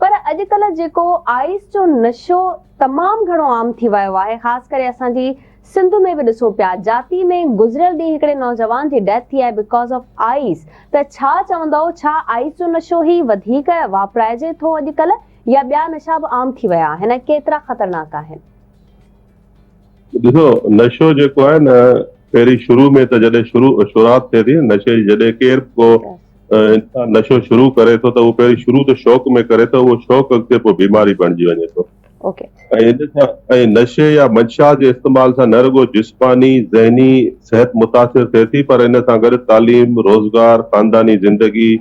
پر اڄڪلهه جيڪو آئيس جو نشو تمام گهڻو عام ٿي ويو آهي خاص ڪري اسان جي سنڌ ۾ به ڏسون پيا جاتي ۾ گذريل ڏينهن هڪڙي نوجوان جي ڊيٿ ٿي آهي بڪاز آف آئيس ته ڇا چوندؤ ڇا آئيس جو نشو هي وڌيڪ واپرائجي ٿو اڄڪلهه يا ٻيا نشا به عام ٿي ويا آهن ۽ ڪيترا خطرناڪ آهن. ڏسو نشو جيڪو آهي نه پهرين شروع ۾ ته جڏهن شروع شروعات ٿئي ٿي نشي جي جڏهن ڪير به ڪو انسان نشو شروع ڪري ٿو ته اهو پهرين شروع ته شوق ۾ ڪري ته اهو شوق اڳتي پوء بيماري بڻجي وڃي ٿو ۽ نشي يا منشا جي استعمال سان نه رڳو جسماني ذهني صحت متاثر ٿئي ٿي پر ان سان گڏ تعليم روزگار خانداني زندگي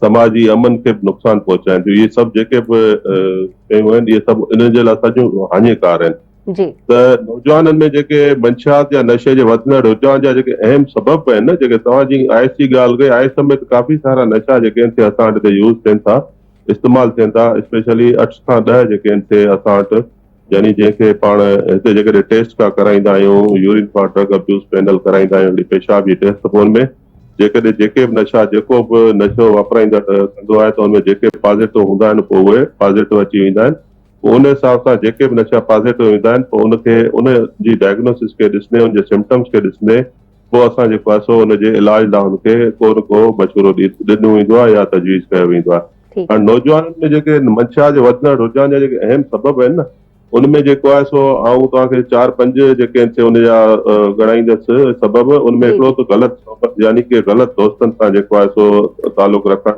سماجي امن کي به نقصان پهچائين ٿيون اهي سڀ جيڪي به شيون آهن اهي سڀ انهن جي لاء سڄيون هاڃيڪار آهن ته نوجوانن ۾ جيڪي منشيات يا نشي جي وڌندڙ رجحان جا جيڪي اهم سبب به آهن جيڪي توهان جي آئس جي ڳالهه ڪئي آئس سميت ڪافي سارا نشا جيڪي آهن سي اسان وٽ هتي يوز ٿين ٿا استعمال ٿين ٿا اسپيشلي اٺ کان ڏهه جيڪي آهن سي اسان وٽ يعني جنهن کي پاڻ هتي جيڪڏهن ٽيسٽ ڪا ڪرائيندا آهيون يورين کان ڊرگ ابيوز پينل ڪرائيندا آهيون پيشاب جي ٽيسٽ پون ۾ جيڪڏهن جيڪي به نشا جيڪو به نشو واپرائيندڙ ڪندو آهي ته ان ۾ جيڪي پازيٽو هوندا آهن پوء اهي پازيٽو اچي ويندا آهن پوء ان حساب سان جيڪي به نشا پازيٽو ايندا آهن پوء ان کي ان جي ڊائگنوسس کي ڏسندي ان جي سمپٽمس کي ڏسندي پوء اسان جيڪو آهي سو ان جي علاج لاء ان کي ڪو نه ڪو مشورو ڏنو ويندو آهي يا تجويز ڪيو ويندو آهي ٺيڪ هاڻي نوجوانن ۾ جيڪي منشا جي وڌندڙ رجحان جا جيڪي اهم سبب آهن نه ان ۾ جيڪو آهي سو آئون توهان کي چار پنج جيڪي آهن سي ان جا ڳڻائيندس سبب، ان ۾ هڪڙو ته غلط صحبت يعني ڪي غلط دوستن سان جيڪو آهي سو تعلق رکڻ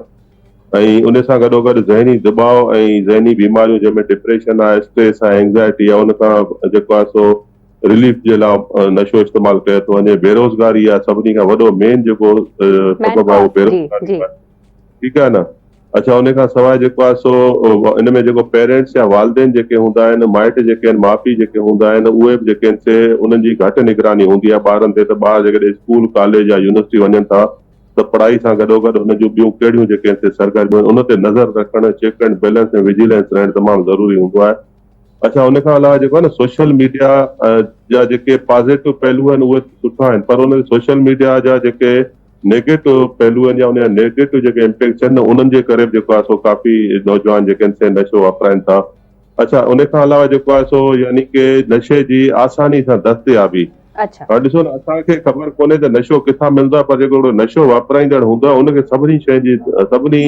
۽ ان سان گڏوگڏ ذهني دٻاء ۽ ذهني بيماريون جنهن ۾ ڊپريشن آهي، اسٽريس آهي، اينگزائٽي آهي ان کان جيڪو آهي سو رليف جي لا نشو استعمال ڪيو ٿو وڃي، بيروزگاري آهي سڀني کان وڏو مين جيڪو سبب آهي اهو بيروزگاري آهي. ٺيڪ آهي نه اڇا انهي کان سواء جيڪو آهي سو ان ۾ جيڪو پيرينٽس يا والدين جيڪي هوندا آهن مائٽ جيڪي آهن ماء پيء جيڪي هوندا آهن اهي به جيڪي آهن سي انهن جي گهٽ نگراني هوندي آهي ٻارن تي ته ٻار جيڪڏهن اسڪول ڪاليج يا يونيورسٽي وڃن ٿا ته پڙهائي سان گڏوگڏ انهن جون ٻيون ڪهڙيون جيڪي آهن سي سرگرميون آهن ان تي نظر رکڻ چيڪ اينڊ بيلنس ۽ وجيلنس رهڻ تمام ضروري هوندو آهي اڇا ان کان علاوه جيڪو آهي نه سوشل ميڊيا جا جيڪي پازيٽو پهلو آهن اهي سٺا آهن پر ان سوشل ميڊيا جا جيڪي نيگيٽو پهلو آهن يا ان جا نيگيٽو جيڪي امپيڪٽس آهن نه انهن جي ڪري به جيڪو آهي سو ڪافي نوجوان جيڪي آهن سي نشو واپرائن ٿا. اڇا ان کان علاوه جيڪو آهي سو يعني ڪي نشي جي آساني سان دستيابي اڇا. هاڻ ڏسو نه اسان کي خبر ڪونهي ته نشو ڪٿان ملندو آهي پر جيڪو هڪڙو نشو واپرائيندڙ هوندو آهي ان کي سڀني شين جي سڀني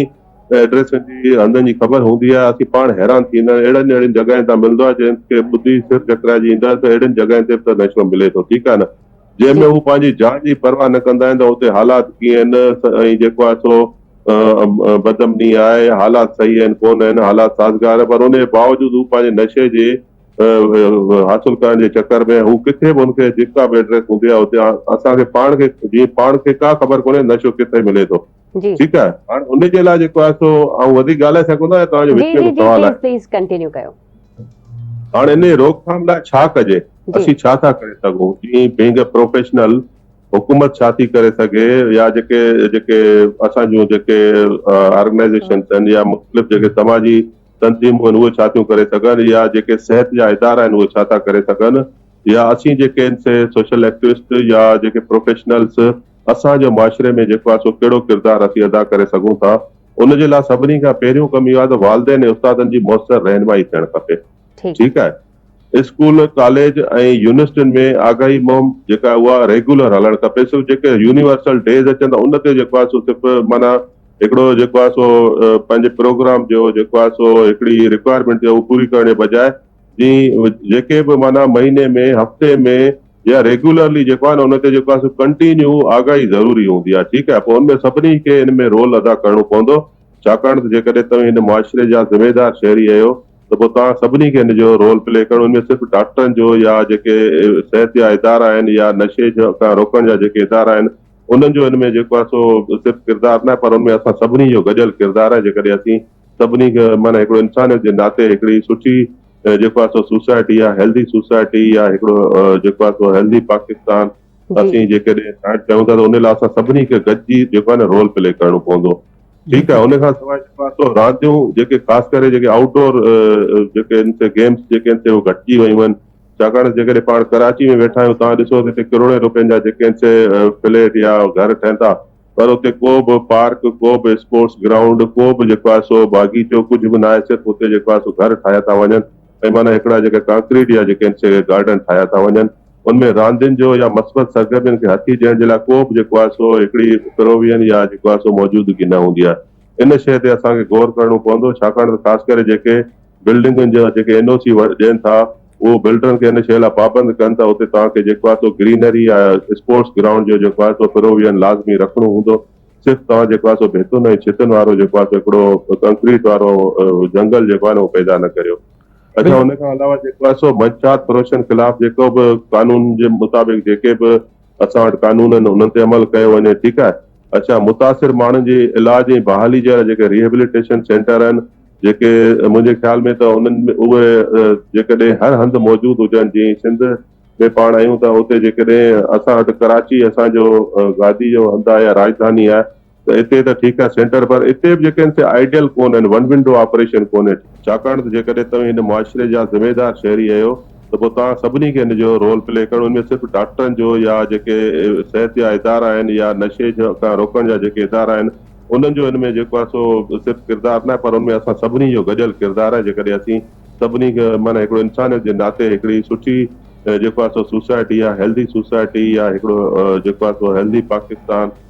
ايڊريسن جي هنڌن جي خبر هوندي آهي اسين پاڻ حيران ٿي ويندا آهيون اهڙن اهڙين جڳهين تان ملندو آهي جنهن کي ٻڌي سر چڪرائجي اينداسين اهڙين جڳهين تي به ته نشو ملي ٿو ٺيڪ آهي نه. جنهن ۾ هو پنهنجي جان جي پرواهه نه ڪندا آهن ته اتي حالات ڪيئن آهن ۽ جيڪو آهي سو بدامني آهي يا حالات صحيح آهن ڪونه آهن، حالات سازگار، پر ان جي باوجود هو پنهنجي نشي جي حاصل ڪرڻ جي چڪر ۾ هو ڪٿي به هن کي جيڪا به ايڊريس هوندي آهي اتي اسان کي پاڻ کي جيئن پاڻ کي ڪا خبر ڪونهي نشو ڪٿي ملي ٿو. ٺيڪ آهي هاڻ ان جي لاء جيڪو آهي سو آئون وڌيڪ ڳالهائي سگهندو آهيان توهان جو وچ ۾ سوال آهي پليز ڪنٽينيو ڪيو هاڻ ان جي روڪٿام لاء ڇا ڪجي اسين ڇا ٿا ڪري سگهون جي بينگ اي پروفيشنل حڪومت ڇا ٿي ڪري سگهي يا جيڪي جيڪي اسان جون جيڪي آرگنائزيشنس آهن يا مختلف جيڪي سماجي تنظيمون آهن اهي ڇا ٿيون ڪري سگهن يا جيڪي صحت جا ادارا آهن اهي ڇا ٿا ڪري سگهن يا اسين جيڪي سوشل ايڪٽوسٽ يا جيڪي پروفيشنلس اسان جو معاشري ۾ جيڪو آهي سو ڪهڙو ڪردار اسين ادا ڪري سگهون ٿا ان جي لاء سڀني کان پهريون ڪم اهو آهي ته والدين ۽ استادن جي موثر رهنمائي ٿيڻ کپي ٺيڪ آهي اسڪول ڪاليج ۽ يونيورسٽين ۾ آگاهي مهم جيڪا آهي اها ريگيولر هلڻ کپي صرف جيڪي يونيورسل ڊيز اچن ٿا ان تي جيڪو آهي سو صرف معنيٰ هڪڙو جيڪو آهي سو پنهنجي پروگرام جو جيڪو آهي سو هڪڙي رڪوائرمينٽ ٿي اها پوري ڪرڻ جي بجاء جي جيڪي به معنيٰ مهيني ۾ هفتي ۾ يا ريگيولرلي جيڪو آهي نه ان تي جيڪو آهي ڪنٽينيو آگاهي ضروري هوندي آهي ٺيڪ آهي پوء ان ۾ سڀني کي ان ۾ رول ادا ڪرڻو پوندو ڇاڪاڻ ته جيڪڏهن توهين هن معاشري جا ذميدار شهري آهيو ته پوء توهان سڀني کي ان جو رول پلي ڪرڻو ان ۾ صرف ڊاڪٽرن جو يا جيڪي صحت جا ادارا آهن يا نشي کان روڪڻ جا جيڪي ادارا آهن انهن جو ان ۾ جيڪو آهي سو صرف ڪردار نه پر ان ۾ اسان سڀني جو گڏيل ڪردار آهي جيڪڏهن اسين سڀني کي معنيٰ هڪڙو انسانيت جي ناتي هڪڙي سٺي جيڪو آهي سو سوسائٽي آهي هيلڌي سوسائٽي يا هڪڙو جيڪو آهي سو هيلڌي پاڪستان جي اسين جيڪڏهن ٺاهڻ چاهيون ٿا ته ان لاء اسان سڀني کي گڏجي جيڪو آهي نه رول پلي ڪرڻو پوندو ٺيڪ آهي ان کان سواء جيڪو آهي سو رانديون جيڪي خاص ڪري جيڪي آئوٽ ڊور جيڪي ان تي گيمس جيڪي ان تي هو گهٽجي ويون آهن ڇاڪاڻ جيڪڏهن پاڻ ڪراچي ۾ ويٺا آهيون توهان ڏسو ته هتي ڪروڙين روپين جا جيڪي ان تي فليٽ يا گهر ٺهن ٿا پر اتي ڪو به پارڪ، ڪو به اسپورٽس گرائونڊ، ڪو به جيڪو آهي سو باغيچو ڪجهه به ناهي صرف اتي جيڪو آهي سو گهر ٺاهيا ٿا وڃن ۽ معنيٰ هڪڙا جيڪا ڪانڪريٽ جا جيڪي آهن گارڊن ٺاهيا ٿا وڃن ان ۾ راندين جو يا مثبت سرگرمين کي هٿي ڏيڻ جي لاء ڪو به جيڪو آهي سو هڪڙي پروويئن يا جيڪو آهي سو موجودگي نه هوندي آهي ان شيء تي اسان کي غور ڪرڻو پوندو ڇاڪاڻ ته خاص ڪري جيڪي بلڊنگن جا جيڪي اين او سي ڏين ٿا اهو بلڊرن کي ان شيء لاء پابند ڪن ته اتي توهان کي جيڪو آهي سو گرينري يا اسپورٽس گرائونڊ جو جيڪو آهي سو پروويئن لازمي رکڻو هوندو صرف توهان جيڪو آهي سو ڀتن ۽ ڇتن وارو جيڪو آهي سو هڪڙو ڪنڪريٽ وارو جنگل جيڪو آهي نه اهو پيدا نه ڪريو اڇا ان کان علاوه جيڪو آهي سو منشيات فروشن خلاف جيڪو به قانون جي مطابق جيڪي به اسان وٽ قانون آهن انهن تي عمل ڪيو وڃي ٺيڪ آهي اڇا متاثر ماڻهن جي علاج ۽ بحالي جي لاء جيڪي ريهبليٽيشن سينٽر آهن جيڪي منهنجي خيال ۾ ته انهن ۾ اهي جيڪڏهن هر هنڌ موجود هجن جيئن سنڌ ۾ پاڻ آهيون ته اتي جيڪڏهن اسان وٽ ڪراچي اسان جو گادي جو هنڌ آهي يا راڄڌاني آهي ته اتي ته ٺيڪ آهي سينٽر پر اتي به جيڪي آهن سي آئيڊيل ڪونهن ون ونڊو آپريشن ڪونهي ٺيڪ ڇاڪاڻ ته جيڪڏهن توهين هن معاشري جا ذميدار شهري اهيو ته پوء توهان سڀني کي ان جو رول پلي ڪرڻو ان ۾ صرف ڊاڪٽرن جو يا جيڪي صحت جا ادارا آهن يا نشي کان روڪڻ جا جيڪي ادارا آهن انهن جو ان ۾ جيڪو آهي سو صرف ڪردار ناهي پر ان ۾ اسان سڀني جو گڏيل ڪردار آهي جيڪڏهن اسين سڀني کي معنيٰ هڪڙو انسانيت جي ناتي هڪڙي سٺي جيڪو آهي سو سوسائٽي يا هيلڌي سوسائٽي يا هڪڙو جيڪو آهي سو هيلڌي پاڪستان